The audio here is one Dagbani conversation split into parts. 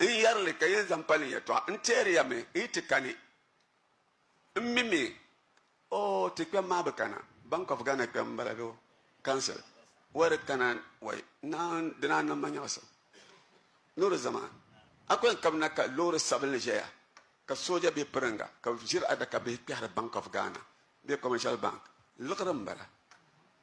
N yɛri li ka yi zaŋ pa ni yɛtɔɣa. N teeri ya mi, yi ti kani. M mi mi, oh, ti kpɛm maa bi kana. Bank of Ghana kpɛm m-bala bee o council. Wai di kana wai, naan di naan niŋ ma nyaɣisim. Loori zama, a ku yɛn kabi na ka loori sabinli ʒɛya ka sooja be piriŋga ka bɛ ʒiri adaka bihi kpɛhiri Bank of Ghana bee Commercial Bank. Liɣiri m-bala.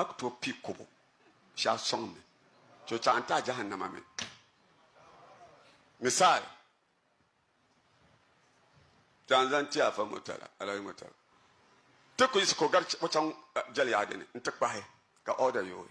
A ku tooi kpi kobo shɛli sɔŋ ni ti o chaŋ n ti a jahannama mi. Misaal, ti a ni zaŋ ti Afa Murtala, Alhaji Murtala, ti ku yiɣisi ka o gari o chaŋ jɛliyaɣi dini n-ti kpahi ka ɔɔda yooi.